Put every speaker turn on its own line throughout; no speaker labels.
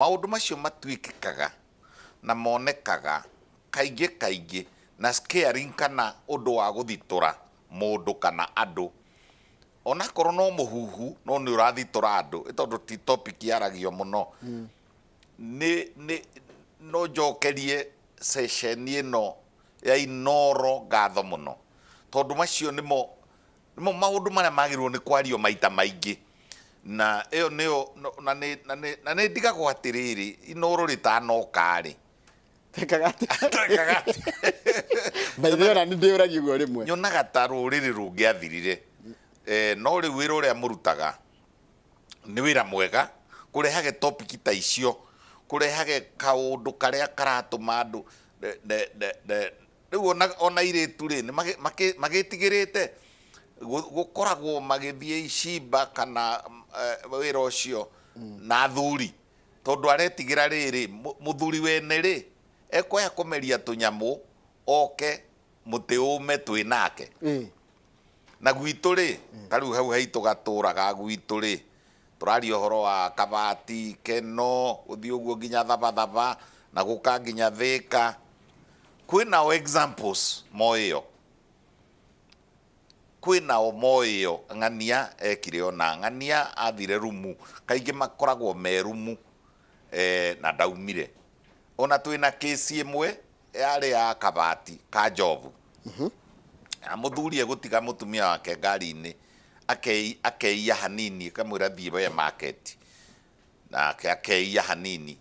Maũndũ macio matuĩkĩkaga na monekaga kaingĩ kaingĩ na scaring kana ũndũ wa gũthitũra mũndũ kana andũ. Onakorwo no mũhuhu no nĩ ũrathitũra andũ nĩ tondũ ti topic yaragio mũno. Nĩ nĩ no njokerie session ĩno ya Inooro ngatho mũno tondũ macio nĩmo Nĩmo maũndũ marĩa magĩrĩirũo nĩ kwario maita maingĩ. Na ĩyo nĩyo, na nĩ, na nĩ, na nĩ ndigagwo atĩrĩrĩ, inooro rĩtanoka-rĩ. Twĩkaga
atĩa? Twĩkaga atĩa? By the way, o na niĩ ndĩyũragia ũguo rĩmwe. Nyonaga ta rũrĩrĩ
rũngĩathirire. No rĩu wĩra ũrĩa mũrutaga nĩ wĩra mwega, kũrehage topic ta icio, kũrehage kaũndũ karĩa karatũma andũ Rĩu o na o na airĩtu-rĩ, nĩ magĩ makĩ magĩtigĩrĩte gũ gũkoragwo magĩthiĩ icimba kana wĩra ũcio na athuri, tondũ aretigĩra rĩrĩ, mũthuri wene-rĩ, ekũaya kũmeria tũnyamũ oke mũtĩ ũme twĩ nake. Na gwitũ-rĩ, ta rĩu hau haitũ gatũũra ga gwitũ-rĩ, tũraria ũhoro wa Kabati, Keno, gũthiĩ ũguo nginya Thabathaba, na gũka nginya Thĩka. Kwĩna o examples moĩ ĩyo. Kwĩna o moĩ ĩyo. Ng'ania ekire ũna. Ng'ania athire rumu. Kaingĩ makoragwo me rumu. Eeh na ndaumire. Ona twĩ na case ĩmwe yarĩ ya kabati ka njobu. Na mũthuri egũtiga mũtumia wake ngari-inĩ akei akeiya hanini akamwĩra thiĩ we market. Nake akeiya hanini.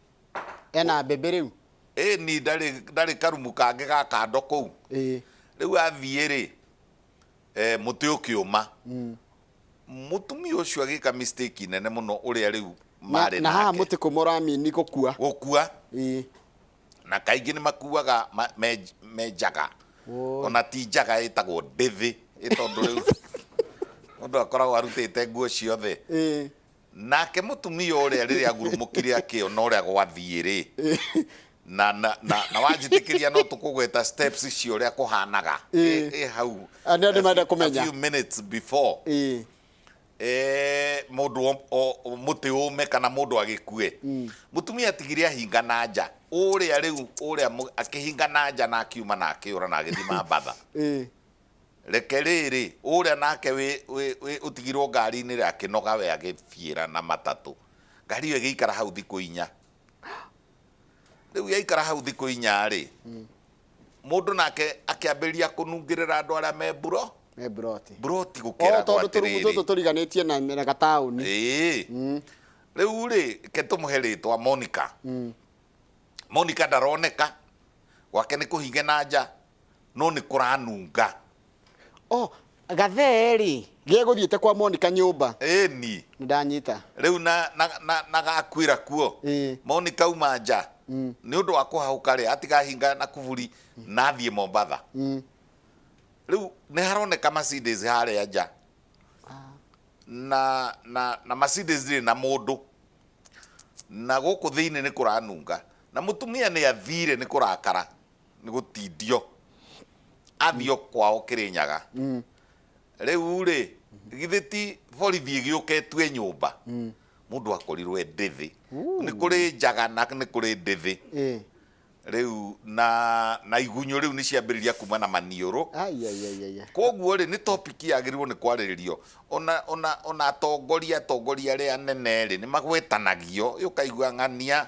Ena
mbembe rĩu? Ĩni ndarĩ
ndarĩ karumu kangĩ ga kando kũu. Ĩĩ. Rĩu athiĩ rĩ, mũtĩ ũkĩũma. mũtumia ũcio agĩka mistake nene mũno ũrĩa rĩu na, marĩ na haha nake mũtĩ kũma
ũramini gũkua gũkua Ĩĩ. na
kaingĩ nĩ makuaga ma- me- me njaga Oi. ona ti njaga ĩtagwo ndĩthĩ ĩ tondũ rĩu mũndũ akoragwo arutĩte nguo ciothe Ĩĩ. Nake mũtumia ũrĩa rĩrĩa agurumũkire akĩona ũrĩa gwathiĩ-rĩ, na, na, na, na wanjĩtĩkĩria no tũkũgweta steps icio ũrĩa kũhanaga Ĩ- ĩ hau Ah, nĩ andũ a menda few-
kũmenya. a few minutes
before Ĩ. eh, mũndũ o- o- o- mũtĩ ũme kana mũndũ agĩkue mũtumia atigire ahinga na nja ũrĩa rĩu ũrĩa mũ- akĩhinga na nja na akiuma na akĩũra na agĩthiĩ mambatha Ĩ. Reke rĩrĩ, ũrĩa nake wĩ, wĩ, wĩ, ũtigirwo ngari-inĩ rĩ, akĩnoga we agĩthiĩra na matatũ. Ngari ĩyo ĩgĩikara hau thikũ inya. Rĩu yaikara hau thikũ inya rĩ, mũndũ nake akĩambĩrĩria kũnungĩrĩra andũ arĩa me mburo, me buroti buroti o gũkĩra tondũ tũrugu tũtũ atĩrĩrĩ.
tũriganĩtie na na gataũni Ĩĩ.
Rĩu rĩ, ke tũmũhe rĩtwa Monica. Monica ndaroneka, gwake nĩ kũhinge na nja, no nĩ kũranunga. Oh,
gathee-rĩ, gegũthiĩte kwa Monica nyũmba. Ĩni.
Nĩndanyita.
Rĩu na, na,
na, na gakwĩra kuo. Ĩĩ. Monica auma nja. Mm. Nĩ ũndũ wa kũhahũka-rĩ, atiga hinga na kuburi na athiĩ Mombatha. Mm. Rĩu nĩ haroneka Mercedes harĩa nja. Na, na, na Mercedes ndĩrĩ na mũndũ. Na gũkũ thĩinĩ nĩ kũranunga. Na mũtumia nĩ athire nĩ kũrakara. nĩ gũtindio athio kwao kĩrĩnyaga rĩu rĩ githĩ ti borithi ĩgĩũka ĩtue nyũmba mũndũ akorirwo e ndĩthĩ nĩ kũrĩ njaga na nĩ kũrĩ ndĩthĩ Eh. rĩu na na igunyũ rĩu nĩ ciambĩrĩria kuma na maniũrũ Ai, ai, ai, ai, ai. koguo rĩ nĩ topic yagĩrĩirwo nĩ kwarĩrĩrio ona ona ona atongoria atongoria arĩa anene rĩ nĩ magwetanagio ũkaigua ng'ania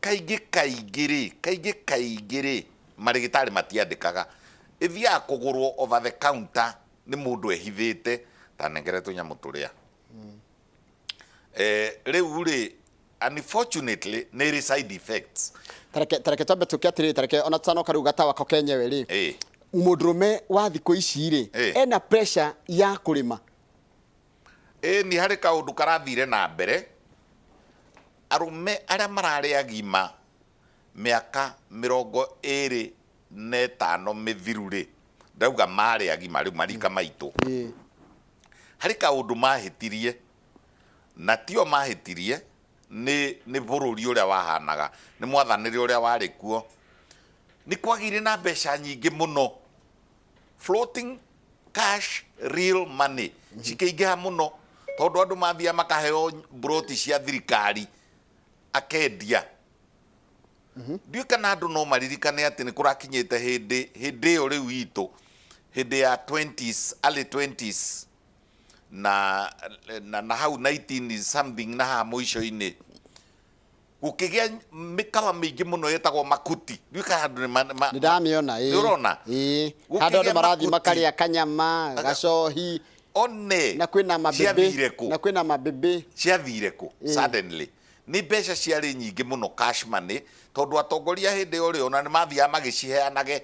Kaingĩ kaingĩ-rĩ, kaingĩ kaingĩ-rĩ, marĩgĩtarĩ matiandĩkaga. Ĩthiaga kũgũrwo over the counter nĩ mũndũ ehithĩte, ta nengere tũnyamũ tũrĩa. Rĩu-rĩ, unfortunately nĩ ĩrĩ side effects. Ta reke ta reke twambe
tũke atĩrĩrĩ, ta reke ona tũtanoka rĩu gatawa ko kenyewe-rĩ, Ĩĩ. mũndũrũme wa thikũ ici-rĩ, Ĩĩ. ena pressure ya kũrĩma.
Ĩni harĩ kaũndũ karathire na mbere, arũme arĩa mararĩ agima mĩaka mĩrongo ĩrĩ na ĩtano mĩthiru rĩ, ndĩrauga marĩ agima rĩu marika maitũ, harĩ kaũndũ mahĩtirie, na tio mahĩtirie, nĩ nĩ bũrũri ũrĩa wahanaga, nĩ mwathanĩre ũrĩa warĩ kuo, nĩ kwagĩire na mbeca nyingĩ mũno. floating cash real money cikĩingĩha mũno tondũ andũ mathiaga makaheo broti cia thirikari akendia ndiũ kana andũ no maririkane atĩ nĩ kũrakinyĩte hĩndĩ hĩndĩ ĩyo rĩu itũ hĩndĩ ya 20s early 20s na, na, na hau 19 something na haha mũico-inĩ gũkĩgĩa mĩkawa mĩingĩ mũno ĩtagwo makuti ndiũĩ kana andũ nĩ ma- nĩ ma- nĩ ndamĩona
ĩ. Nĩ ũrona? Ĩ.
Gũkĩgĩa handũ andũ
marathiĩ makuti. makarĩa kanyama Aga- gacohi one na
kwĩna mabĩbĩ
ciathire kũ na kwĩna mabĩbĩ ciathire
kũ Ĩ. suddenly nĩ mbeca ciarĩ nyingĩ mũno cash money tondũ atongoria hĩndĩ ĩyo rĩ ona nĩ mathiaga magĩciheanage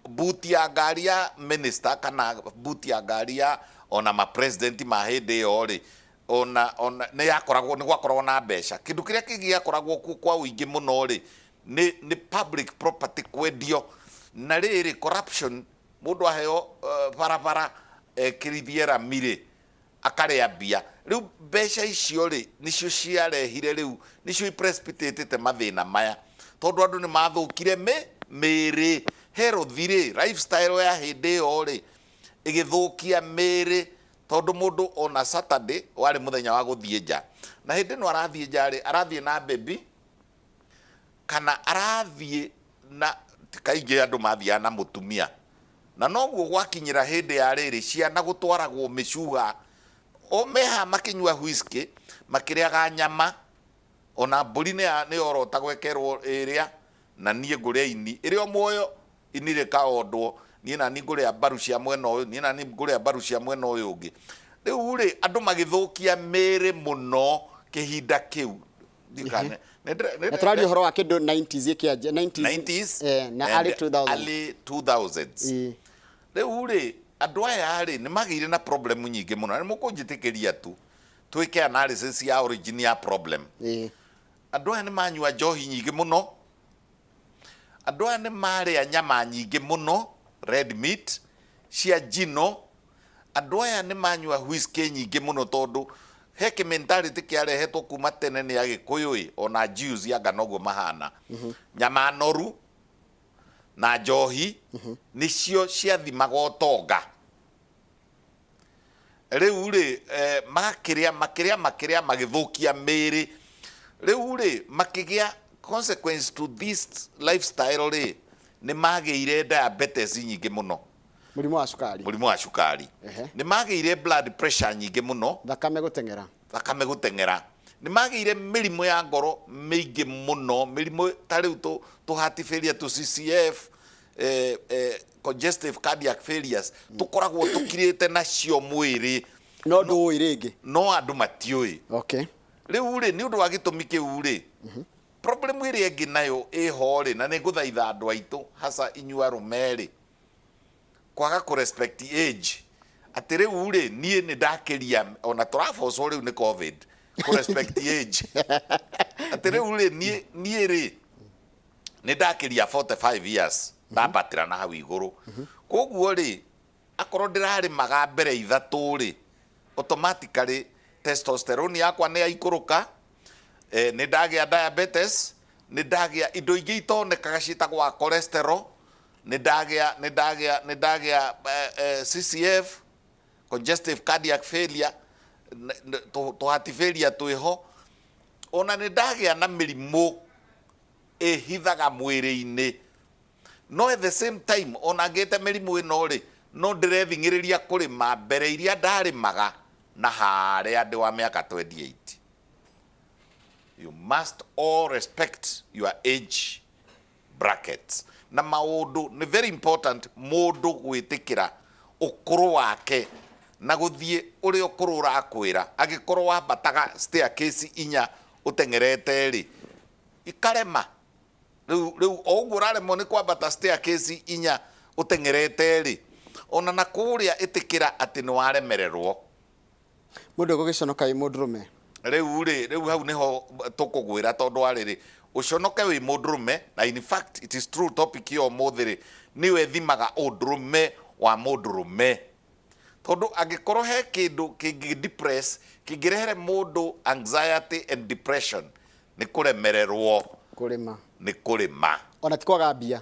buti ya ngari ya minister kana buti ya ngari ya ona mapresident ma hĩndĩ ĩyo rĩ ona ona nĩ yakoragwo nĩ gwakoragwo na mbeca kĩndũ kĩrĩa kĩngĩ gĩakoragwo kuo kwa ũingĩ mũno rĩ nĩ nĩ public property kwendio na rĩrĩ corruption mũndũ aheo uh, barabara ekĩrithie rami rĩ akarĩa mbia rĩu mbeca icio rĩ nĩcio ciarehire rĩu nĩcio iprecipitatĩte mathĩna maya tondũ andũ nĩ mathũkire mĩ mĩrĩ herothi rĩ lifestyle ya hĩndĩ ĩyo rĩ ĩgĩthũkia mĩrĩ Tondũ mũndũ ona Saturday warĩ mũthenya wa gũthiĩ nja. Na hĩndĩ ĩno arathiĩ nja rĩ, arathiĩ na baby kana arathiĩ na, ti kaingĩ andũ mathiaga na mũtumia. Na noguo gwakinyĩra hĩndĩ ya rĩrĩ, ciana gũtwaragwo mĩcuha. O me haha makĩnyua whiskey, makĩrĩaga nyama, ona mbũri nĩyorota gwekerwo ĩrĩa, Na niĩ ngũrĩa ini ĩrĩ o muoyo, ini rĩkaondwo, niĩ na niĩ ngũrĩa mbaru cia mwena ũyũ, niĩ na niĩ ngũrĩa mbaru cia mwena ũyũ ũngĩ. Rĩu-rĩ, andũ magĩthũkia mĩĩrĩ mũno kĩhinda kĩu. Ndiũĩ kana nĩ- nĩ ndĩre- nĩ Na tũraria
ndĩre- ũhoro wa kĩndũ 90s ĩkĩanjia, 90s, 90s eh,
na and early 2000s.
early 2000s. Ĩĩ.
Rĩu-rĩ, andũ aya-rĩ, nĩ magĩire na problem nyingĩ mũno. Na nĩ mũkũnjĩtĩkĩria tu, twĩke analysis ya origin ya problem. Ĩĩ. Andũ aya nĩ maanyua njohi nyingĩ mũno, andũ aya nĩ maarĩa nyama nyingĩ mũno, red meat, cia njino, andũ aya nĩ maanyua whiskey nyingĩ mũno tondũ he kĩ mentality kĩarehetwo kuma tene nĩ Agĩkũyũ ĩ, o na Jews anga noguo mahana. Nyama noru na njohi nĩcio ciathimaga ũtonga. rĩu rĩ eh, makĩrĩa makĩrĩa makĩrĩa magĩthũkia mĩĩrĩ rĩu rĩ makĩgĩa consequence to this lifestyle rĩ nĩ magĩire diabetes nyingĩ mũno mũrimũ wa cukari
mũrimũ wa cukari Ehe. nĩ magĩire
blood pressure nyingĩ mũno thakame gũteng'era
thakame gũteng'era
nĩ magĩire mĩrimũ ya ngoro mĩingĩ mũno mĩrimũ ta rĩu tũ- tũhatibĩria tũ CCF eh, eh, congestive cardiac failures tũkoragwo tũkirĩte nacio mwĩrĩ no ndũũĩ
rĩngĩ no andũ matiũĩ
okay rĩu rĩ nĩ ũndũ wa gĩtũmi kĩu rĩ problem ĩrĩa ĩngĩ nayo ĩho rĩ na nĩ ngũthaitha andũ aitũ haca inyua rũme rĩ kwaga kũ respect age atĩ rĩu rĩ niĩ nĩ ndakĩria ona tũrabocwo rĩu nĩ covid kũ respect age atĩ rĩu rĩ niĩ niĩ rĩ nĩ ndakiria 45 years ndambatĩra na hau igũrũ koguo rĩ akorwo ndĩrarĩmaga mbere ithatũ rĩ automatically testosterone yakwa nĩ yaikũrũka eh, nĩ ndagĩa diabetes nĩ ndagĩa indo ingĩ itonekaga ciĩtagwa cholesterol nĩ ndagĩa nĩ ndagĩa nĩ ndagĩa eh, eh, CCF congestive cardiac failure n- n- tũ- tũhati failure twĩho O na nĩ ndagĩa na mĩrimũ ĩhithaga mwĩrĩ-inĩ. No at the same time o na ngĩte mĩrimũ ĩno-rĩ, no ndĩrething'ĩrĩria kũrĩma mbere iria ndarĩmaga na harĩa ndĩ wa mĩaka 28. You must all respect your age brackets, na maũndũ nĩ very important mũndũ gwĩtĩkĩra ũkũrũ wake na gũthiĩ ũrĩa ũkũrũ ũrakwĩra. Angĩkorwo wambataga staircase inya ũteng'erete-rĩ, ikarema. Rĩu rĩu o ũguo ũraremwo nĩ kwambata staircase inya ũteng'erete-rĩ, ona na kũrĩa ĩtĩkĩra atĩ nĩwaremererwo. Mũndũ
egũgĩconoka ĩ
mũndũrũme. Rĩu-rĩ, rĩu hau nĩho tũkũgwĩra
tondũ wa
rĩrĩ, ũconoke wĩ mũndũrũme, na in fact it is true topic ya ũmũthĩ-rĩ, nĩyo ĩthimaga ũndũrũme wa mũndũrũme. Tondũ angĩkorwo he kĩndũ kĩngĩ depress, kĩngĩrehere mũndũ anxiety and depression, nĩ kũremererwo Kũrĩma. nĩ kũrĩma. Ona ti kwaga mbia.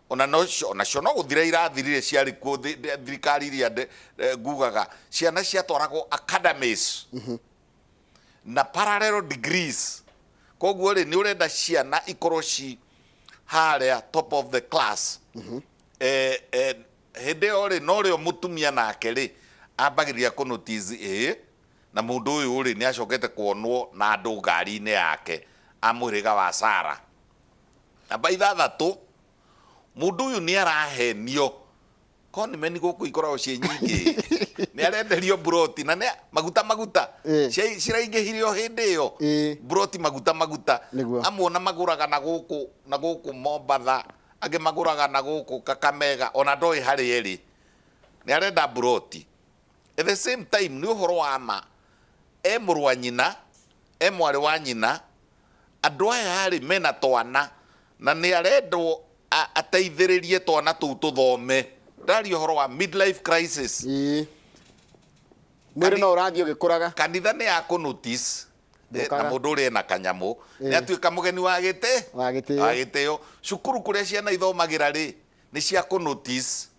O na nocio, o nacio no gũthira irathirire ciarĩ kuo thĩ, thĩ- thirikari iria ndĩ- eh, ngugaga, ciana ciatwaragwo academies na parallel degrees. Koguo rĩ, nĩ ũrenda ciana ikorwo ci harĩa top of the class. Eh, eh, hĩndĩ ĩyo rĩ, no rĩo mũtumia nake rĩ, ambagĩrĩria kũ notice, ĩĩ, na mũndũ ũyũ rĩ, nĩ acokete kuonwo na andũ ngari-inĩ yake a mũhĩrĩga wa Sarah Namba ithathatũ, mũndũ ũyũ nĩ arahenio. Conmen gũkũ ikoragwo ciĩ nyingĩ. Nĩ arenderio mburoti na nĩ maguta maguta. Ĩ. Cia- Ciraingĩhire o hĩndĩ ĩyo. Ĩ. Mburoti maguta maguta. Nĩguo. Amwe ona magũraga na gũkũ na gũkũ Mombatha, angĩ magũraga na gũkũ Kakamega, ona ndoĩ harĩa ĩrĩ. Nĩ arenda mburoti. At the same time nĩ ũhoro wa ma, e mũrũ wa nyina, e mwarĩ wa nyina, andũ aya rĩ mena twana na nĩ arendwo ateithĩrĩrie twana tũu tũthome. Ndĩraria ũhoro wa mid life crisis. Ĩĩ.
Mwĩrĩ no ũrathiĩ ũgĩkũraga. Kanitha nĩ ya kũ
notice eh, na mũndũ ũrĩa ena kanyamũ eh. nĩ atuĩka mũgeni wa gĩtĩ wa gĩtĩo. Cukuru kũrĩa ciana ithomagĩra rĩ nĩ cia kũ notice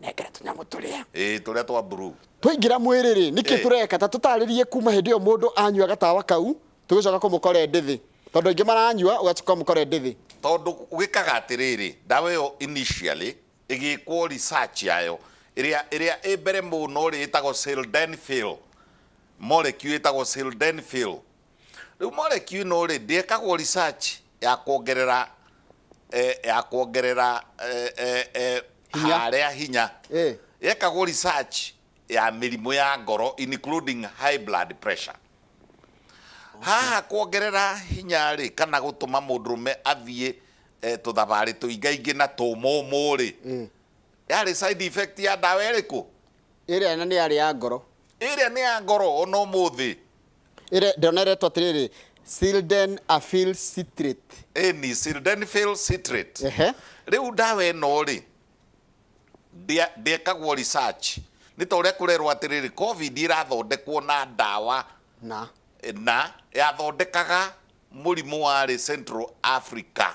nengera tũnyamũ tũrĩa ĩĩ tũrĩa twa blue
twaingĩra mwĩrĩ-rĩ
nĩkĩ Eh. tũreka ta tũtarĩrie kuma hĩndĩ ĩyo mũndũ anyua gatawa kau tũgĩcoka kũmũkore ndĩthĩ tondũ aingĩ maranyua ũgacoka ũmũkore ndĩthĩ tondũ gwĩkaga
atĩrĩrĩ ndawa ĩyo initially ĩgĩkwo research yayo ĩrĩa ĩrĩa ĩ mbere mũno rĩ ĩtagwo sildenafil molecule ĩtagwo sildenafil rĩu molecule ĩno rĩ ndĩekagwo research ya kuongerera eh, ya kuongerera eh, eh, eh, Hinya. haria hinya Eh. yekagwo research ya mĩrimũ ya ngoro including high blood pressure haha kuongerera hinya rĩ kana gũtũma mũndũrũme athiĩ eh, tũthabarĩ tũingaingĩ na tũmũmũ rĩ Eh. yarĩ side effect ya ndawa ĩrĩkũ ĩrĩa na nĩ
yarĩ ya ngoro ĩrĩa nĩ ya ngoro
ona ũmũthĩ Ĩre- ndĩrona
ĩretwo atĩrĩrĩ silden afil citrate ĩni sildenafil
citrate Ehe. rĩu ndawa ĩno rĩ ndĩa- ndĩekagwo research nĩ ta ũrĩa kũrerwo atĩrĩrĩ covid ĩrathondekwo na ndawa na na yathondekaga mũrimũ warĩ central africa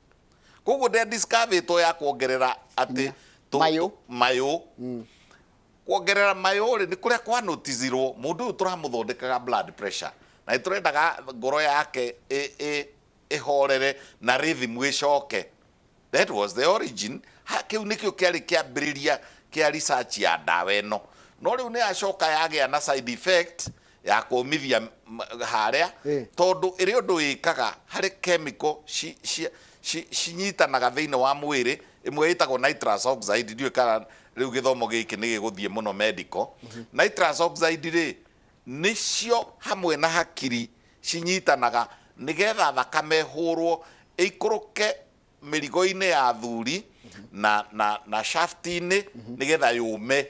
koguo nde discoveto ya kuongerera atĩ tũ- Mayũ. mayũ kuongerera mayũ rĩ nĩ kũrĩa kwa notizirwo mũndũ ũyũ tũramũthondekaga blood pressure na nĩ tũrendaga ngoro yake ĩ- ĩ- ĩhorere na rhythm ĩcoke that was the origin Ha- kĩu nĩkĩo kĩarĩ kĩambĩrĩria kĩa research ya ndawa ĩno no rĩu nĩ yacoka yagĩa na side effect ya kũũmithia harĩa tondũ ĩrĩ ũndũ wĩkaga harĩ kemiko cinyitanaga thĩinĩ wa mwĩrĩ, ĩmwe ĩtagwo nitrous oxide, ndiũĩ kana rĩu gĩthomo gĩkĩ nĩ gĩgũthiĩ mũno medical. Nitrous oxide rĩ, nĩcio hamwe na hakiri cinyitanaga nĩgetha thakame ĩhũrwo ĩikũrũke mĩrigo-inĩ ya athuri na na na shaft-inĩ nĩgetha yũme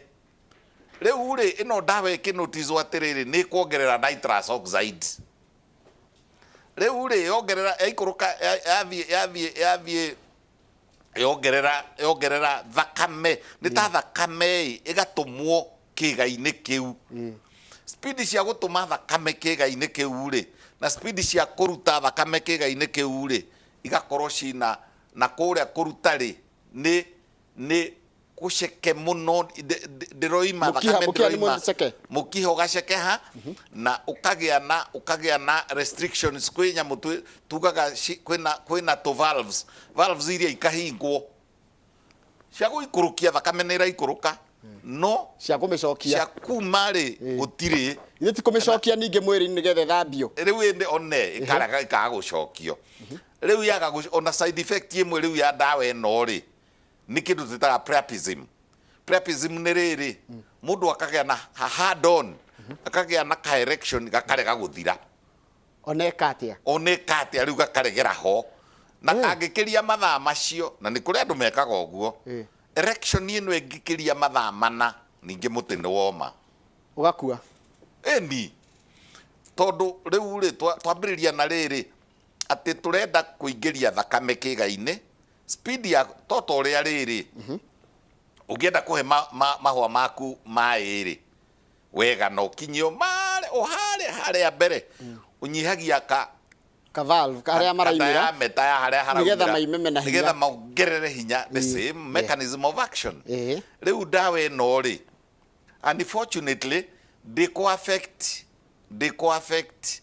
rĩu rĩ ĩno ndawa ĩkĩnotizwo atĩrĩrĩ nĩ kuongerera nitrous oxide rĩu rĩ yongerera yaikũrũka ya- yathiĩ yathiĩ yathiĩ yongerera yongerera thakame nĩ ta thakame ĩ ĩgatũmwo kĩga-inĩ kĩu spidi cia gũtũma thakame kĩga-inĩ kĩu rĩ na spidi cia kũruta thakame kĩga-inĩ kĩu rĩ igakorwo cina na kũrĩa kũruta rĩ nĩ nĩ gũceke mũno ndĩroima mũkiha mũkiha nĩ mũceke mũkiha ũgacekeha na ũkagĩa na ũkagĩa na restrictions kwĩ nyamũ tugaga kwĩna kwĩna to valves valves iria ikahingwo cia gũikũrũkia thakame nĩ iraikũrũka no cia kũmĩcokia
cia kuma rĩ
Ĩĩ. gũtirĩ ithe ti kũmĩcokia
ningĩ mwĩrĩ-inĩ nĩgetha ĩthambio rĩu ĩndĩ one
ĩkaraga ĩkaga gũcokio rĩu yaga gũc- ona side effect ĩmwe rĩu ya ndawa ĩno rĩ nĩ kĩndũ twĩtaga priapism priapism nĩ rĩrĩ mũndũ akagĩa na ha- hard on akagĩa na ka erection gakarega gũthira Oneka
atĩa? Oneka atĩa? Rĩu gakaregera ho.
Na kangĩkĩria mathaa macio, na nĩ kũrĩ andũ mekaga ũguo, erection ĩno ĩngĩkĩria mathaa mana, ningĩ mũtĩ nĩ woma. Ũgakua.
Ĩni.
Tondũ rĩu-rĩ, twambĩrĩria na rĩrĩ, atĩ tũrenda kũingĩria thakame kĩga-inĩ, speed ya, to ta ũrĩa rĩrĩ, ũngĩenda kũhe mahũa maku maĩ-rĩ, wega na ũkinyie ũmare ũhare harĩa mbere ũnyihagia ka ka valve ka-
harĩa maraimĩra diameter ya harĩa haraumĩra
Nĩgetha maimeme na hinya. nĩgetha
mongerere
hinya the same mechanism of action Ĩhĩ. rĩu ndawa ĩno rĩ unfortunately ndĩkũ affect ndĩkũ affect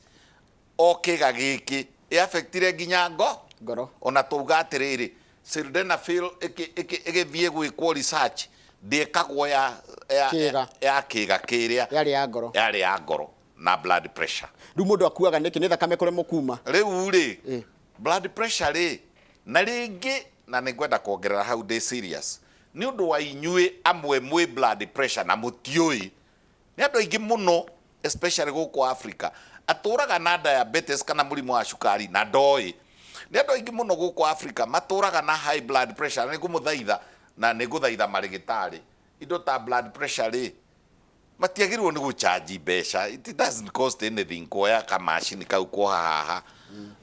o kĩga gĩkĩ ĩ affectire nginya ngo ngoro ona twauga atĩrĩrĩ sildenafil ĩkĩ- ĩkĩ- ĩgĩthiĩ gwĩkwo research ndĩkagwo ya ya- Kĩĩga. ya kĩga kĩrĩa yarĩ ya ngoro yarĩ ya ngoro na blood pressure rĩu mũndũ akuaga nĩkĩ
nĩ thakame kũremwo kuma rĩu rĩ Ĩ.
blood pressure rĩ na rĩngĩ na nĩ ngwenda kuongerera hau ndĩ serious nĩ ũndũ wa inyuĩ amwe mwĩ blood pressure na mũtiũĩ Nĩ andũ aingĩ mũno especially gũkũ Africa atũraga na diabetes kana mũrimũ wa cukari na ndoĩ. Nĩ andũ aingĩ mũno gũkũ Africa matũraga na high blood pressure na nĩ ngũmũthaitha na nĩ ngũthaitha marĩgĩtarĩ, indo ta blood pressure rĩ, matiagĩrĩirwo nĩ gũ charge mbeca, it doesn't cost anything kuoya kamacini kau kuoha haha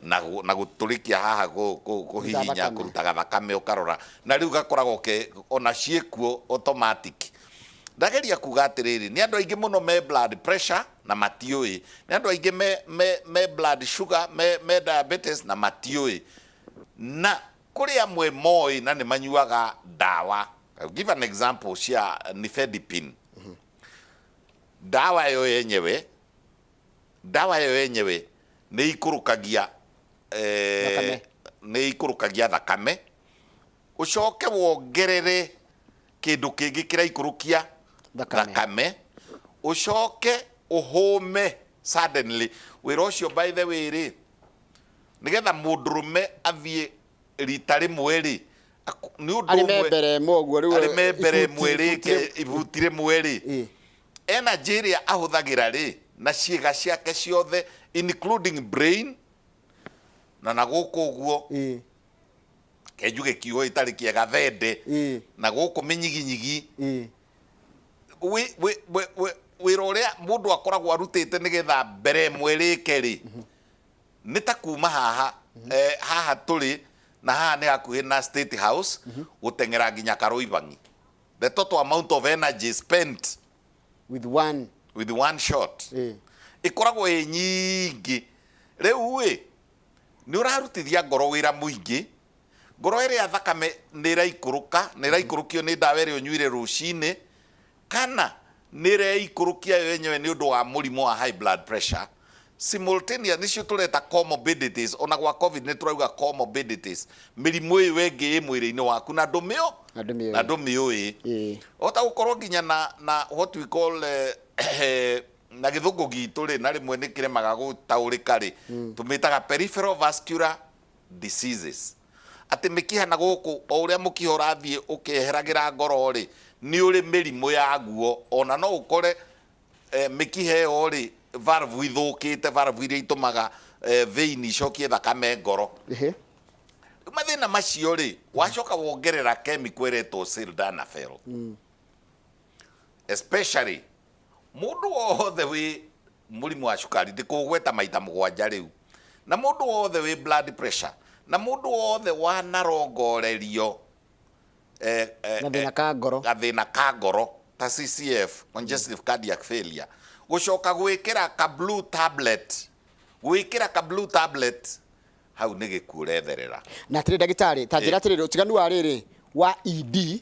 na gũ- na gũtũrĩkia haha kũ- kũ- kũhihinya thakame. kũrutaga thakame ũkarora na rĩu gakoragwo ke ona ciĩkuo automatic Ndageria kuga atĩrĩrĩ, nĩ andũ aingĩ mũno me blood pressure na matiũĩ, nĩ andũ aingĩ me, me, me blood sugar, me, me diabetes na matiũĩ, na kũrĩ amwe moĩ na nĩ manyuaga ndawa. I'll give an example cia nifedipine. Ndawa ĩyo yenyewe, ndawa ĩyo yenyewe nĩ ikũrũkagia eh, Thakame. nĩ ikũrũkagia thakame Ũcoke wongerere kĩndũ kĩngĩ kĩraikũrũkia Thakame. thakame, ũcoke ũhũme suddenly. Wĩra ũcio by the way rĩ, nĩgetha mũndũrũme athiĩ rita rĩmwe rĩ, aku- nĩ ũndũ Arĩ ũmwe- membere ĩmwe ũguo rĩu. arĩ membere ibuti- ĩmwe rĩ, ibuti rĩmwe. ke- ibuti rĩmwe rĩ, Ĩ. energy ĩrĩa ahũthagĩra rĩ na ciĩga ciake ciothe including brain na na gũkũ ũguo Ĩ. kenju gĩkiuhwo gĩtarĩ kĩega thende ĩĩ na gũkũ mĩnyiginyigi ĩĩ wĩ- wĩ- wĩ- wĩ- wĩra ũrĩa mũndũ akoragwo arutĩte nĩgetha mbere ĩmwe rĩke rĩ nĩ ta kuma haha eh, haha tũrĩ na haha nĩ hakuhĩ na state house gũteng'era nginya karoibangi the total amount of energy spent with
one with one shot ĩĩ
ĩkoragwo ĩ nyingĩ rĩu ĩ Nĩ ũrarutithia ngoro wĩra mũingĩ. Ngoro ĩrĩa thakame nĩ ĩraikũrũka, nĩ ĩraikũrũkio nĩ ndawa ĩrĩa ũnyuire rũcinĩ, kana nĩ ĩreikũrũkia yo yenyewe nĩ ũndũ wa mũrimũ wa high blood pressure, simultaneous, nĩcio tũreta comorbidities, ona gwa Covid nĩ tũrauga comorbidities, mĩrimũ ĩyo ĩngĩ ĩ mwĩrĩ-inĩ waku na ndũmĩũ, Na ndũmĩũĩ. na ndũmĩũĩ. Ĩĩ. Wahota gũkorwo nginya na, na what we call, eh, na gĩthũngũ gitũ rĩ na rĩmwe nĩ kĩremaga gũtaũrĩka rĩ tũmĩtaga peripheral vascular diseases atĩ mĩkiha na gũkũ o ũrĩa mũkiha ũrathiĩ ũkĩeheragĩra ngoro rĩ nĩ ũrĩ mĩrimũ yaguo ona no ũkore eh, mĩkiha ĩyo rĩ valve ithũkĩte valve iria itũmaga eh, vein icokie thakame ngoro Ehe. Rĩu mathĩna macio rĩ wacoka wongerera kemiko ĩretwo sildanafil especially Mũndũ wothe wĩ mũrimũ wa cukari ndĩkũgweta maita mũgwanja rĩu, na mũndũ wothe wĩ blood pressure, na mũndũ wothe wanarongorerio eh, eh, Gathĩna eh, ka ngoro. gathĩna ka ngoro ta CCF, congestive cardiac failure, gũcoka gwĩkĩra ka blue tablet, gwĩkĩra ka blue tablet hau nĩ gĩkuũ ũretherera. na atĩrĩ ndagĩtarĩ
ta njĩra atĩrĩrĩ ũtiganu wa rĩrĩ wa ed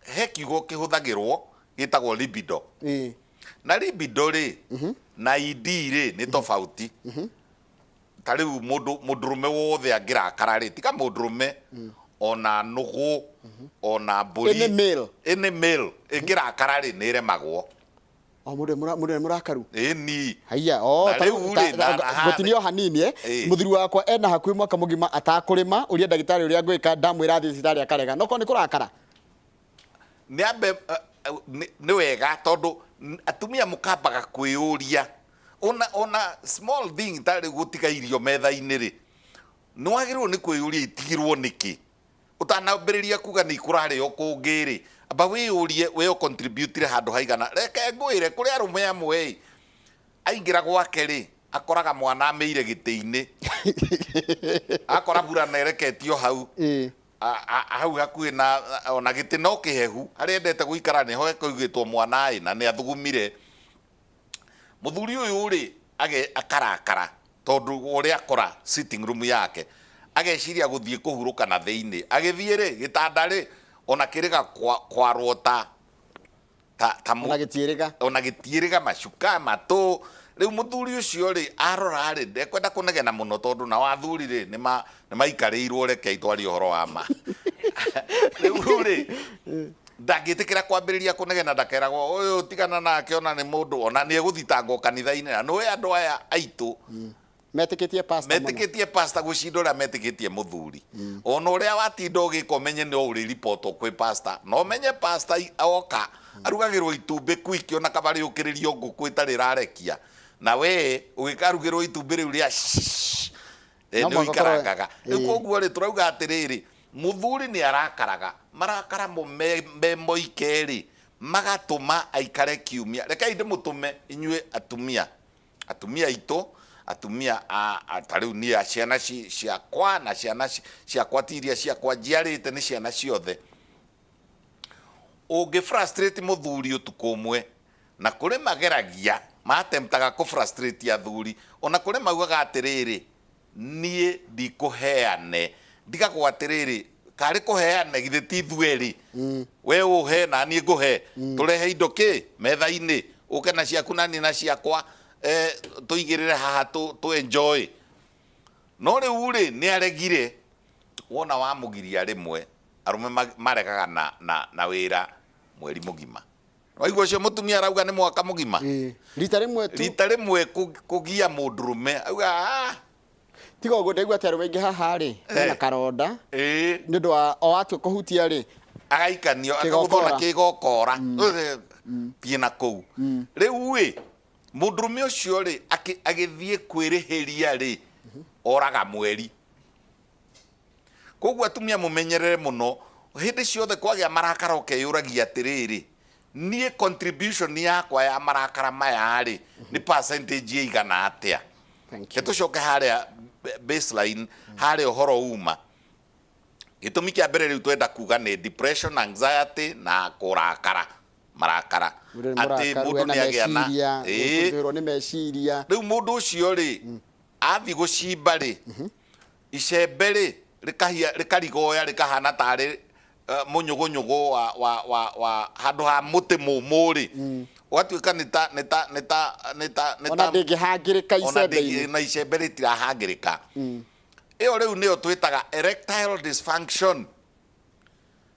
he kiugo kĩhũthagĩrwo gĩtagwo libido Ĩĩ. na libido rĩ na ed rĩ nĩ tofauti ta rĩu mũndũ mũndũrũme wothe angĩrakara rĩ tiga mũndũrũme ona nũgũ ona mbũri Any male. any male ĩngĩrakara rĩ nĩ ĩremagwo o mũndũ nĩ mũra-
mũndũ nĩ mũrakaru ĩni haiya
o Na ta rĩu
rĩu-rĩ, ta- na- ta- aha, ngũtinia o hanini eh. Ĩ. mũthuri wakwa ena hakuhĩ mwaka mũgima atakũrĩma ũria ndagĩtarĩ ũrĩa ngwĩka ndamwĩra athiĩ thibitarĩ akarega no korwo nĩ kũrakara
nä ambe nä wega tondå n- atumia må kambaga kwä yå ria ona ona small thing tarä gå tiga irio metha-inä rä nä wagä rä irwo nä kwä yå ria itigirwo nä kä Ũtanambĩrĩria kuuga nĩikũrarĩ o kũngĩ-rĩ, amba wĩyũrie wee ũcontributire handũ haigana? Reke ngwĩre, kũrĩ arũme amwe-ĩ, aingĩra gwake-rĩ, akoraga mwana amĩire gĩtĩ-inĩ, agakora burana ĩreketio hau, hau hakuhĩ na, ona gĩtĩ no kĩhehu, harĩa endete gũikara nĩho hekũigĩtwo mwana-ĩ, na nĩathugumire. mũthuri ũyũ rĩ age- akarakara tondũ wa ũrĩa akora sitting room yake ageciria gũthiĩ kũhurũka na thĩinĩ agĩthiĩ rĩ gĩtanda rĩ ona kĩrĩga kwa- kwarwo ta ta, ta mũ- ona gĩtiĩrĩga ona gĩtiĩrĩga macuka matũ rĩu mũthuri ũcio rĩ arora rĩ ndekwenda kũnegena mũno tondũ nao athuri rĩ nĩ ma- nĩ maikarĩirwo rekei twarie ũhoro wa ma rĩu rĩ ndangĩtĩkĩra kwambĩrĩria kũnegena ndakeragwo ũyũ tigana nake ona nĩ mũndũ ona nĩ egũthitangwo kanitha-inĩ na nĩwe andũ aya aitũ metĩkĩtie pastor mũno. metĩkĩtie pasta gũcinda ũrĩa metĩkĩtie mũthuri ona ũrĩa watinda ũgĩka ũmenye no ũrĩ ribotwo kwĩ pasta na ũmenye pasta i- oka arugagĩrwo itumbĩ kwiki ona kabarĩũkĩrĩrio ngũkũ ĩtarĩ rarekia na we ũgĩkarugĩrwo itumbĩ rĩu rĩa shh, Eh, No nĩ mũhaka ũkorwo- ũikarangaga rĩu Ĩĩ. koguo rĩ tũrauga atĩrĩrĩ mũthuri nĩ arakaraga marakara mo me me moike rĩ magatũma aikare kiumia rekei ndĩmũtũme inyuĩ atumia atumia aitũ atumia a- a- ta rĩu niĩ a ciana ci- ciakwa na ciana ci- ciakwa ti iria ciakwa njiarĩte nĩ ciana ciothe ũngĩ frustrate mũthuri ũtukũ ũmwe Na kũrĩ mageragia, ma attemptaga kũ frustrate athuri, o na kũrĩ maugaga atĩrĩrĩ, Niĩ ndikũheane. Ndigagwo atĩrĩrĩ, Karĩ kũheane, githĩ ti ithuerĩ? We ũhe, na niĩ ngũhe. Tũrehe indo kĩ? Metha-inĩ. Ũke na ciaku na niĩ na ciakwa, tũigĩrĩre haha tũ enjoy. No rĩu-rĩ, nĩ aregire. Wona wamũgiria rĩmwe, arũme maregaga na wĩra mweri mũgima. Waigua ũcio mũtumia arauga nĩ mwaka mũgima? Ĩĩ. Rita rĩmwe tu. Rita rĩmwe kũgia mũndũrũme. Auga ah. Tiga ũguo
ndaigua atĩ arũme aingĩ haha-rĩ, mena eh. karonda. Ĩĩ. Nĩ ũndũ wa o atua kũhutia-rĩ. Agaikanio,
akagũthwo na kĩgokora. Mm. Eh, mm. Thiĩ na kũu. Mm. Rĩu-ĩ, mũndũrũme ũcio-rĩ, agĩthiĩ kwĩrĩhĩria-rĩ, mhm. oraga mweri. Kwoguo atumia mũmenyerere mũno, hĩndĩ ciothe kwagĩa marakara ũkeyũragia atĩrĩrĩ, niĩ contribution yakwa ya marakara maya-rĩ, nĩ percentage ĩigana atĩa? Thank
Nĩ you. tũcoke harĩa
b- baseline, harĩa ũhoro uma. Gĩtũmi kĩa mbere rĩu twenda kuga nĩ depression, anxiety na kũrakara, marakara. Mũndũ nĩ Atĩ mũrakaru,
mũndũ ena nĩ agĩa na- meciria, Ĩĩ. gũthũirwo nĩ meciria. Rĩu mũndũ ũcio-rĩ,
athiĩ gũcimba-rĩ, Icembe-rĩ, rĩkahia, rĩkarigoya, rĩkahana tarĩ eh, mũnyũgũnyũgũ wa, wa, wa, wa handũ ha mũtĩ mũmũ-rĩ, ũgatuĩka nĩ ta, nĩ ta, nĩ ta, nĩ ta,
nĩ ona ta, ndĩngĩhangĩrĩka ona icembe-inĩ ndĩngĩ- na icembe
rĩtirahangĩrĩka ĩyo rĩu nĩyo twĩtaga erectile dysfunction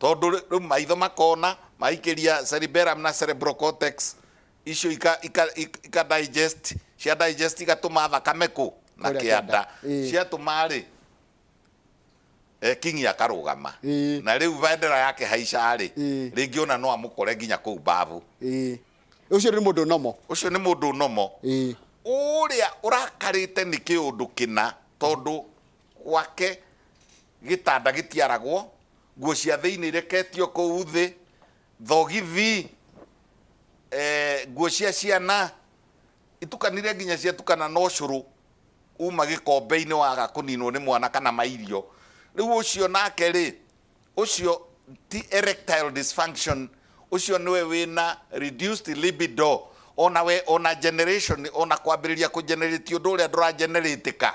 tondũ rĩu maitho makona maikĩria cerebellum na cerebral cortex icio ika, ika, ik- ika digest cia digest igatũma thakame kũ na Kũrĩa kĩanda kĩanda, ĩĩ. ciatũma rĩ eh, kingi akarũgama Ĩĩ. na rĩu bendera yake haica rĩ Ĩĩ. rĩngĩ ona no amũkore nginya kũu mbabu Ĩĩ. ũcio
nĩ mũndũ nomo ũcio nĩ mũndũ nomo Ĩĩ.
ũrĩa ũrakarĩte nĩ kĩũndũ kĩna tondũ gwake Gĩtanda gĩtiaragwo, nguo cia thĩinĩ ireketio kũu thĩ, thogithi, nguo cia ciana itukanire nginya ciatukana na ũcũrũ uma gĩkombe-inĩ waga kũninwo nĩ mwana kana mairio. Rĩu ũcio nake rĩ, ũcio ti erectile dysfunction, ũcio nĩwe wĩna reduced libido, ona we, ona generation, ona kwambĩrĩria kũ generate ũndũ ũrĩa ndũra generate ka.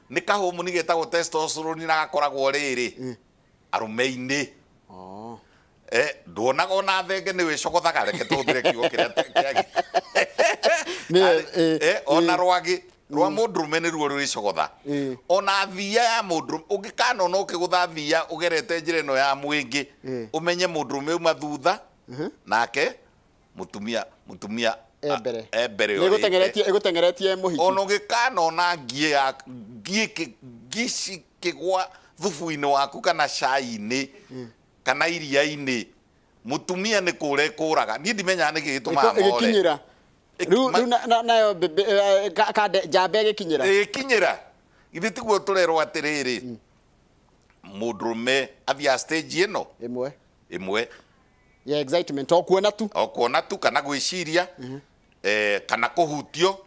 nĩ kahũmũni getagwo testosterone na gakoragwo rĩrĩ arũme-inĩ Oh. Eh, nduonaga ona thenge nĩ wĩcogothaga reke tũhũthĩre kiugo kĩrĩa tũ- kĩagi- Nĩ- Arĩ- eh, eh, ona eh. rwagĩ rwa mũndũrũme nĩ ruo rwĩcogotha Eh. ona thia ya mũndũrũme ũngĩkanona ũkĩgũtha thia ũgerete njĩra ĩno ya mwĩngĩ Eh. ũmenye mũndũrũme uma thutha nake mũtumia mũtumia E mbere. e mbere Nĩ ũrĩte. ĩgũteng'eretie
ĩgũteng'eretie mũhiki ona ũgĩkanona
ngiĩ ya ngiĩ kĩ- ngi cikĩgwa thubu-inĩ waku kana cai-inĩ kana iria-inĩ mũtumia nĩ kũra ĩkũraga niĩ ndimenyaga nĩkĩ Ĩko- gĩtũmaga more ĩgĩkinyĩra
Ĩki- rĩu ma- rĩu na- na- nayo mbĩmbĩ- eh, ka- kande- njamba ĩgĩkinyĩra ĩgĩkinyĩra
githĩ tiguo tũrerwo atĩrĩrĩ mũndũrũme athiaga stage ĩno ĩmwe ĩmwe ya
excitement o kuona tu o kuona tu kana gwĩciria
eh, kana kũhutio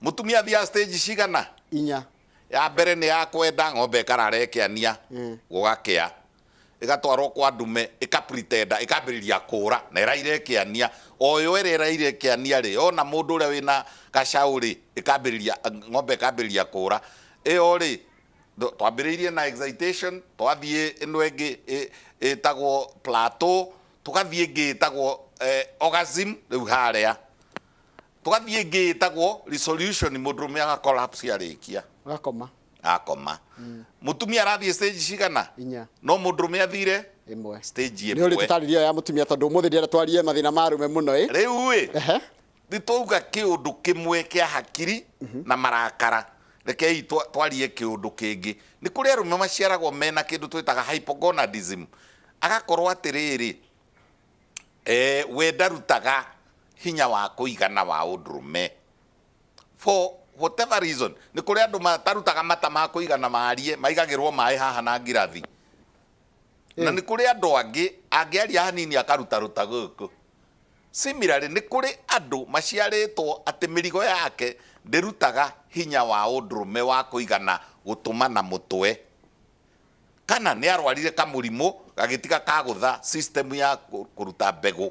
mũtumia thia stage cigana inya
ya mbere nĩ
ya kwenda ng'ombe ĩkarara ĩkĩania gũgakĩa ĩgatwarwo kwa ndume ĩkapretenda ĩkambĩrĩria kũra na ĩraire ĩkĩania oyo ĩrĩa ĩraire ĩkĩania rĩ ona mũndũ ũrĩa wĩna gacaũ rĩ ĩkambĩrĩria ng'ombe ĩkambĩrĩria kũra ĩyo rĩ Th- twambĩrĩirie na excitation twathiĩ ĩno ĩngĩ ĩ- ĩtagwo plateau tũgathiĩ ĩngĩ ĩtagwo eh, orgasm rĩu harĩa tũgathiĩ ĩngĩ ĩtagwo resolution mũndũ rũme agacollapse arĩkia gakoma akoma mũtumia arathiĩ stage cigana inya no mũndũ rũme
athire
ĩmwe stage
nä å rä ĩmwe tå tarä
ria ya må
tumia tondå må thä ndä twarie mathä na marå me må no ä rĩu ä Ehe.
Nĩ twauga kĩũndũ kĩmwe kĩa hakiri na marakara. Rekei twarie kĩũndũ kĩngĩ. Nĩ kũrĩ arũme maciaragwo mena kĩndũ twĩtaga hypogonadism. Agakorwo atĩrĩrĩ, we ndarutaga hinya wa kũigana wa ũndũrũme. For whatever reason. Nĩ kũrĩ andũ matarutaga mata ma kũigana marie, maigagĩrwo maĩ haha na ngirathi. na nĩ kũrĩ andũ angĩ angĩaria hanini akaruta ruta gũkũ. Similarly, nĩ kũrĩ andũ maciarĩtwo atĩ mĩrigo yake ndĩrutaga hinya wa ũndũrũme wa kũigana gũtũma na mũtwe. Kana nĩ arwarire kamũrimũ gagĩtiga kagũtha system ya kũruta mbegũ.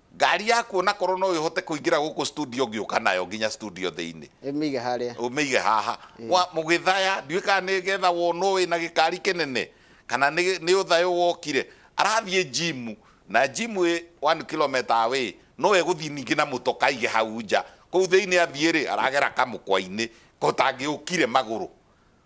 Ngari yaku o na korũo no ĩhote kũingĩra gũkũ studio ngĩũka nayo nginya studio thĩinĩ. Ĩ mĩige harĩa. Ũmĩige haha. Wa, mũgĩthaya, ndiũĩ kana nĩ getha wonwo wĩ na gĩkari kĩnene, kana nĩ, nĩ ũthayũ wokire. Arathiĩ gym, na gym ĩ one kilometre away, no egũthiĩ ningĩ na mũtoka aige hau nja. Kũu thĩinĩ athiĩ-rĩ, aragera kamũkwa-inĩ, kotangĩũkire magũrũ.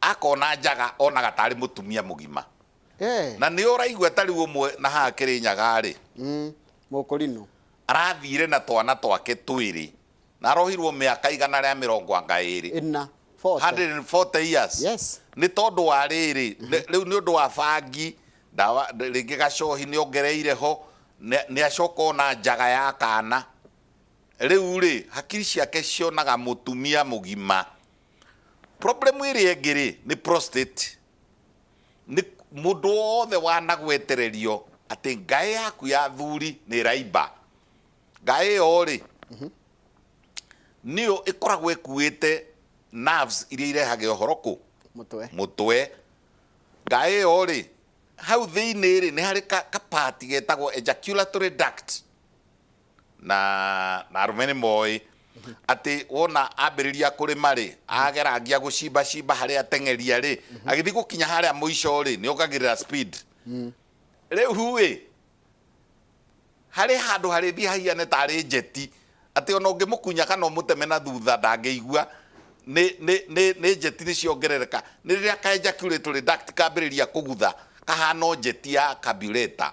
Akona njaga onaga tarĩ mũtumia mũgima. Eeh. Na nĩ ũraigua ta rĩu ũmwe na haha Kĩrĩnyaga rĩ. Mm. Mũkũrinũ.
Arathire
na twana twake twĩrĩ. Na arohirwo mĩaka igana rĩa mĩrongo anga ĩrĩ. Ĩna. Forty. Hundred and forty years. Yes. Nĩ tondũ
wa
rĩrĩ, rĩu nĩ ũndũ wa bangi, ndawa, rĩngĩ gacohi nĩ ongereire ho, nĩ acoka ona njaga ya kana. Rĩu rĩ, hakiri ciake cionaga mũtumia mũgima. Problem ĩrĩa ĩngĩ rĩ, nĩ prostate. Nĩ mũndũ wothe wanagwetererio atĩ ngaĩ yaku ya athuri nĩ ĩraimba. Ngaĩ ĩyo rĩ, nĩyo ĩkoragwo ĩkuĩte nerves iria irehage ũhoro kũ? Mũtwe. Mũtwe. Ngaĩ ĩyo rĩ, hau thĩinĩ rĩ, nĩ harĩ ka, ka part getagwo ejaculatory duct. na na arũme nĩ moĩ atĩ wona ambĩrĩria kũrĩma rĩ agerangia gũcimba cimba harĩa ateng'eria rĩ agĩthiĩ gũkinya harĩa mũico rĩ nĩ ongagĩrĩra speed rĩu rĩ harĩ handũ harĩthiĩ hahiane tarĩ njeti atĩ ona ũngĩmũkunya kana ũmũteme na thutha ndangĩigua nĩ- nĩ- nĩ nĩ njeti nĩ ciongerereka nĩ rĩrĩa ka ejaculatory duct kambĩrĩria kũgutha kahana o njeti ya kabireta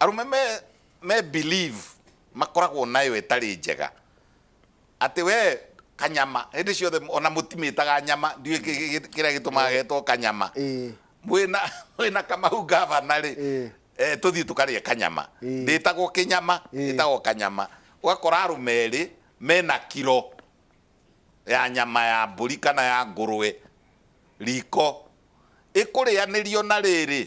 Arũme me, me believe makoragwo nayo ĩtarĩ njega atĩ we kanyama hĩndĩ ciothe ona mũtimĩtaga nyama ndiũĩ kĩ- kĩ- kĩ- kĩrĩa gĩtũmaga getwo kanyama Ĩĩ. mwĩna mwĩna kamau gavana rĩ Ĩĩ. eh, tũthiĩ tũkarĩe kanyama Ĩĩ. ndĩtagwo kĩnyama Ĩĩ. ĩtagwo kanyama ũgakora arũme erĩ mena kiro ya nyama ya mbũri kana ya ngũrwe riko ĩkũrĩanĩrio na rĩrĩ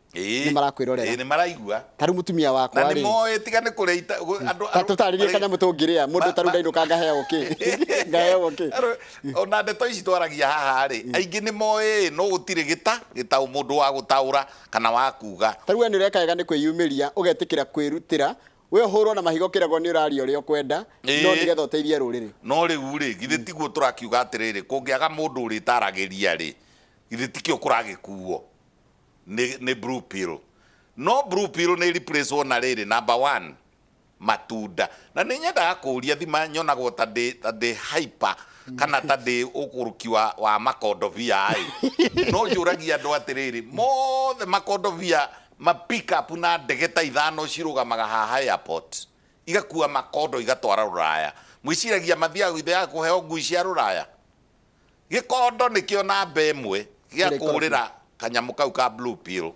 Ĩĩ. nĩ marakwĩrorera Ĩĩ, nĩ maraigua ta rĩu
mũtumia na wakwa
nĩ rĩ moĩ tiga nĩ kũrĩa
ita- gũ- andũ- ta tũtarĩrie
arĩ- kanyamũ tũngĩrĩa mũndũ Ma- ta rĩu ma- ndainũka ngaheagwo kĩ ngaheagwo kĩ Arũ- ona ndeto ici
twaragia haha rĩ aingĩ nĩ moĩ no gũtirĩ gĩta gĩtaũ mũndũ wa gũtaũra kana wa kuga ta rĩu we nĩ ũreka wega nĩ
kwĩyumĩria ũgetĩkĩra kwĩrutĩra we ũhũrwo na mahiga ũkĩragwo nĩ ũraria ũrĩa ũkwenda Ĩĩ. no nĩgetha ũteithie rũrĩrĩ no rĩu rĩ githĩ
tiguo tũrakiuga atĩrĩrĩ kũngĩaga mũndũ ũrĩtaragĩria rĩ githĩ tikĩo kũragĩkuo nĩ, nĩ blue pill no blue pill nĩ replace wo na rĩrĩ number one matunda na nĩ nyendaga kũria thima nyonagwo ta ndĩ ta ndĩ hyper kana ta ndĩ ũkũrũki wa, wa makondovia ĩ no njũragia andũ atĩrĩrĩ mothe makondovia ma pick up na ndege ta ithano cirũgamaga haha airport igakua makondo igatwara rũraya mwĩciragia mathiaga githĩ ya kũheo ngui cia rũraya Gĩkondo nĩkĩo namba ĩmwe gĩa Kĩrĩa ikorobia. kũũrĩra kanyamũ kau ka blue pill.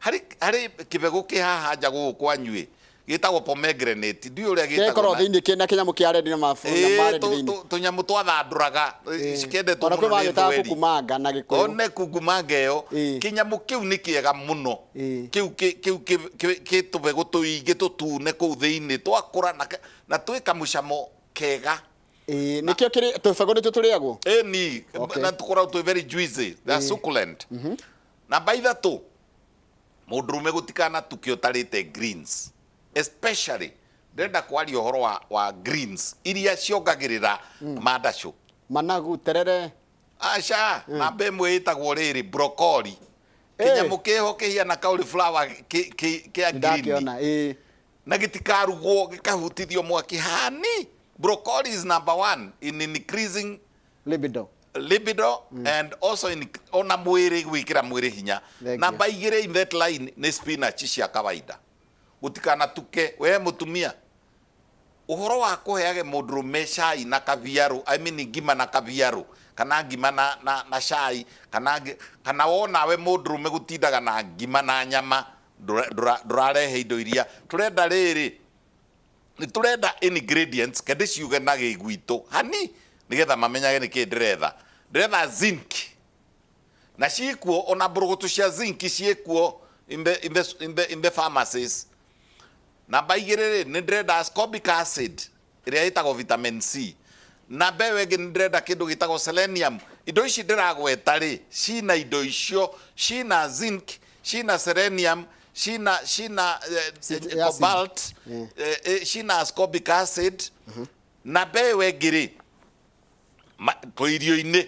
Harĩ harĩ kĩbegũ kĩ haha nja gũkũ kwanyu-ĩ, gĩtagwo pomegranate. Ndiũĩ ũrĩa Kĩrĩa gĩtagwo ikoragwo na- thĩinĩ kĩna kĩnyamũ
kĩa red na mabu na Ĩĩ, marĩ tũ- thĩinĩ. tũ- tũnyamũ twathandũraga
ĩ, cikendetwo Ona kwĩ mũno nĩ magĩtaga thweri.
kukumanga na gĩkũyũ. one kungumanga
ĩyo Ĩĩ. kĩnyamũ kĩu nĩ kĩega mũno Ĩĩ. kĩu kĩ- kĩu kĩ- kĩ- kĩ tũbegũ tũingĩ tũtune kũu thĩinĩ twakũra na ka- na twĩ kamũcamo kega Eh, nikio
kiri tubago nitu turiagwo eni Okay. na
tukoragwo twĩ very juicy they are succulent namba ithatũ mũndũrũme gũtikana tukĩ ũtarĩte greens especially ndĩrenda kwaria ũhoro wa, wa greens iria ciongagĩrĩra mandacũ managu
terere aca
namba ĩmwe ĩtagwo rĩrĩ brokori Eh. kĩnyamũ kĩho kĩhiana cauliflower kĩ- kĩ- kĩa green ndakiona eh Na gĩtikarugwo gĩkahutithio mwaki hani. Broccoli is number one in increasing Libido. libido and also in, ona mwĩrĩ gwĩkĩra mwĩrĩ hinya Thank namba igĩrĩ in that line nĩ spinach cia kawaida gũtikanatuke we mũtumia ũhoro wa kũheage mũndũrũme cai na kabiarũ I mean ngima na kabiarũ kana ngima na, na, na cai kana, ngi- kana wonawe mũndũrũme gũtindaga na ngima na nyama ndũra, ndũra, ndũrarehe indo iria tũrenda rĩrĩ nĩ tũrenda ingredients ke ndĩciuge na gĩgwitũ hani nĩgetha mamenyage nĩkĩ ndĩretha ndĩretha zinc na ciĩkuo ona mbũrũgũtũ cia zinc ciĩkuo in the, in the, in the, in the pharmacies namba igĩrĩ rĩ nĩ ndĩrenda ascorbic acid ĩrĩa ĩtagwo vitamin C, na mbeũ ĩngĩ nĩ ndĩrenda kĩndũ gĩtagwo selenium. Indo ici ndĩragweta rĩ, cina indo icio, cina zinc, cina selenium, cina cina eh, Ci- eh, ya zinc. cobalt, Eh. eh, eh, cina ascorbic acid, na mbeũ ĩngĩ rĩ, ma- tũ irio-inĩ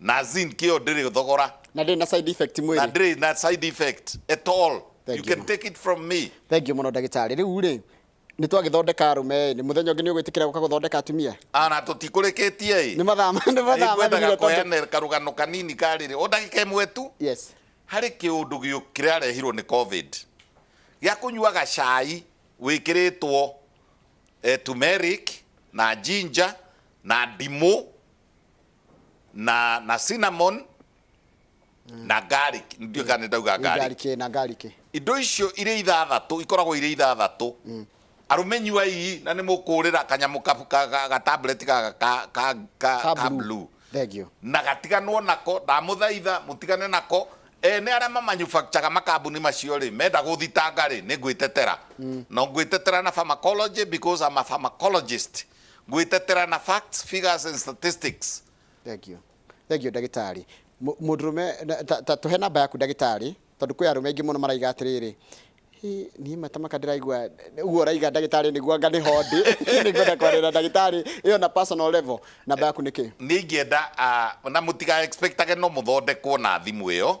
na zinc ĩyo ndĩrĩ thogora na ndĩrĩ na side effect
na mwĩrĩ ndĩrĩ na side
effect at all Thank you you. can take it from me thengiũ mũno ndagĩtarĩ
rĩu rĩ nĩ twagĩthondeka arũme nĩ mũthenya ũngĩ nĩ ũgwĩtĩkĩra gũka gũthondeka atumia ana tũtikũrĩkĩtie
ĩ nĩ mathaa ma- nĩ
mathaa ikwendaga mathirire tondũ-
kũheana karũgano kanini karĩrĩ o ndagĩka ĩmwe tu yes harĩ
kĩũndũ
gĩũ- kĩrarehirwo nĩ covid gĩa kũnyuaga cai wĩkĩrĩtwo eh, turmeric na ginger na ndimũ na na cinnamon na garlic ndio kana ndauga Nĩ garlic ngarikĩ na ngarikĩ
indo icio
irĩ ithathatũ ikoragwo irĩ ithathatũ arũme nyuai na nĩ mũkũrĩra kanyamũ kabu- ka- ka- ga tablet gaka ka- ka- ka- ka ka blue blue thengio na
gatiganwo nako
ndamũthaitha mũtigane nako ene arĩa mamanufacturaga makambuni macio rĩ menda gũthitanga rĩ nĩ ngwĩtetera no ngwĩtetera na pharmacology because I'm a pharmacologist Gwĩtetera na facts, figures and statistics. Thank you.
Thank you ndagĩtarĩ. Mũ- Mũndũrũme na- ta- ta tũhe namba yaku ndagĩtarĩ tondũ kwĩ arũme aingĩ mũno maraiga atĩrĩrĩ "Hĩ, niĩ matamaka ndĩraigua ũguo ũraiga ndagĩtarĩ nĩguo anga nĩho ndĩ nĩngwenda kwarĩra ndagĩtarĩ ĩyo na personal level namba yaku nĩ kĩ nä ingä enda
na må tiga expectage no må thondekwo na thimå ä yo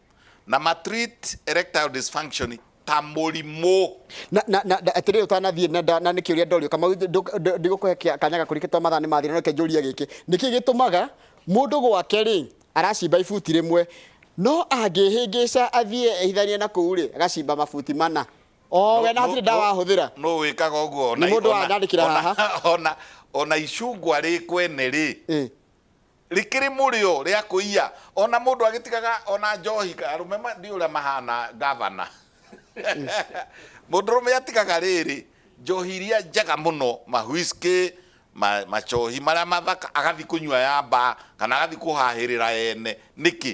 na matreat erectile dysfunction ta mũrimũ na na na na-
atĩrĩrĩ ũtanathiĩ na nda- na nĩ kĩũria ndorio kamau ndũ- ndũ- ndigũkũhe kĩa- kanya gakũrĩke twa mathaa nĩ mathira reke njũrie gĩkĩ nĩkĩ gĩtũmaga mũndũ gwake rĩ aracimba ibuti rĩmwe no angĩhĩngĩca athiĩ ehithanie na kũu rĩ agacimba mabuti mana o we na hatirĩ ndawa ahũthĩra no wĩkaga ũguo
Nĩ mũndũ ona- wanandĩkĩra ona-
haha. ona ona icungwa
rĩ kwene rĩ Ĩ. Rĩkĩrĩ mũrĩo rĩa kũiya. Ona mũndũ agĩtigaga ona njohi arũme ma ndiũĩ ũrĩa mahana ngavana. Mũndũrũme atigaga rĩrĩ njohi iria njega mũno ma whiskey ma macohi marĩa mathaka agathiĩ kũnyua ya mbaa kana agathiĩ kũhahĩrĩra ene nĩkĩ?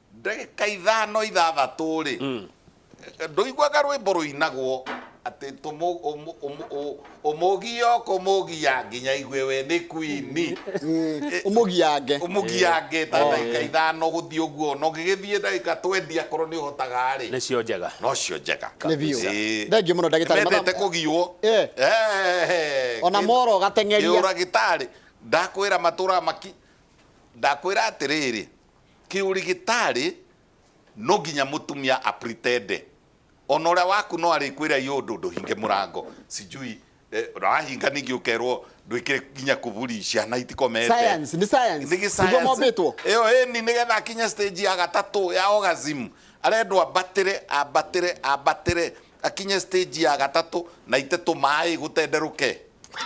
Ndagĩka ithano ithathatũ-rĩ, ndũiguaga rwĩmbo rũinagwo atĩ tũmũ, ũmũ, ũmũ, ũ- ũmũgia ũkũmũgia nginya aigue we nĩ kwini ũmũgiange ũmũgiange ta ndagĩka ithano gũthiĩ ũguo na ũngĩgĩthiĩ ndagĩka twendi akorwo nĩ ũhotaga-rĩ nĩcio njega nocio
njega Nĩ biũ.
Ĩĩ. Thengiũ mũno ndagĩtarĩ. Nĩmendete kũgiwo
Eh. Eh,
Ona kĩndũ- moro ũgateng'eria. kĩũragĩtarĩ
ndakwĩra matũra maki ndakwĩra atĩrĩrĩ Kĩũrigĩtarĩ no nginya mũtumia a pretend. Ona ũrĩa waku no arĩkwĩra ĩ ũndũ ndũhinge mũrango sijui na wahinga ningĩ ũkerwo ndwĩkĩre nginya kuburi ciana itikomete. Science, nĩ science. Nĩ gĩ
Nĩguo science. mombĩtwo. Ĩyo
ĩni nĩgetha akinye stage ya gatatũ ya orgasm arendwo ambatĩre ambatĩre ambatĩre Akinye stage ya gatatũ na ite tũmaĩ gũtenderũke.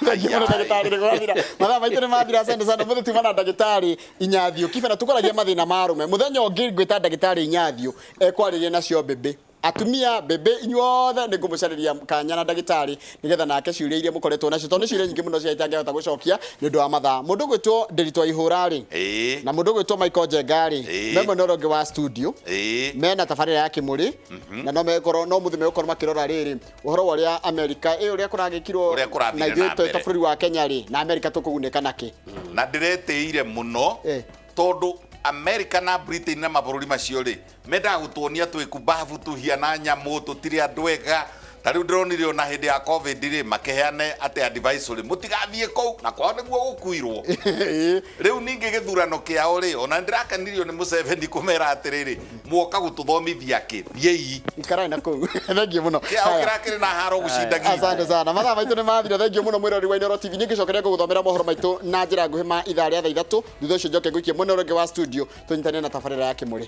Thengiũmũno ndagĩtarĩ
nĩ gwathira mathaa maitũ nĩ mathira asante sana mũthĩ tuma na ndagĩtarĩ inyathio kibera tũkoragia mathĩna ma arũme mũthenya ũngĩ ngwĩta ndagĩtarĩ inyathio ekwarĩria nacio mbĩmbĩ atumia mbĩmbĩ inyuothe nĩ ngũmũcarĩria kanya na ndagĩtarĩ nĩgetha nake ciũria iria mũkoretwo nacio tondũ nĩ ciũria nyingĩ mũno cia itangĩhota gũcokia nĩ ũndũ wa mathaa mũndũ gwĩtwo ndĩritwa ihũra rĩ na mũndũ gwĩtwo Michael Njenga rĩ memwe na ũrĩa ũngĩ wa studio mena tabarĩra ya kĩmũrĩ na no mekorwo no mũthĩ megũkorwo makĩrora rĩrĩ ũhoro wa ũrĩa amerika ĩ ũrĩa kũragĩkirwo Ũrĩa kũrathire na na ithuĩ twĩ ta mbere. bũrũri wa kenya rĩ na amerika tũkũgunĩka nakĩ na ndĩretĩire
mũno Eh. tondũ amerika na britain na mabũrũri macio rĩ mendaga gũtuonia twĩkumbabu tũhiana nyamũ tũtirĩ andũ ega Na rĩu ndĩronire ona hĩndĩ ya covid rĩ makĩheane atĩ advisory mũtigathiĩ kũu na kwao nĩguo gũkuirwo Ĩĩ. rĩu ningĩ gĩthurano kĩao rĩ ona ndĩrakenirio nĩ mũceveni kũmera atĩrĩrĩ muoka gũtũthomithia kĩ thiĩi ikarai na kũu
thengiũ mũno kĩao Haya. kĩrakĩrĩ na haro
gũcinda nginya asante sana mathaa maitũ
nĩ mathira thengiũ mũno mwĩrori wa inoro tv nĩ ngĩcokeria ngũgũthomera mohoro maitũ na njĩra nguhĩ ma ithaa rĩa thaa ithatũ thutha ũcio njoke ngũikie mwena ũrĩa ũngĩ wa studio tũnyitanĩre na tabarĩra ya kĩmũrĩ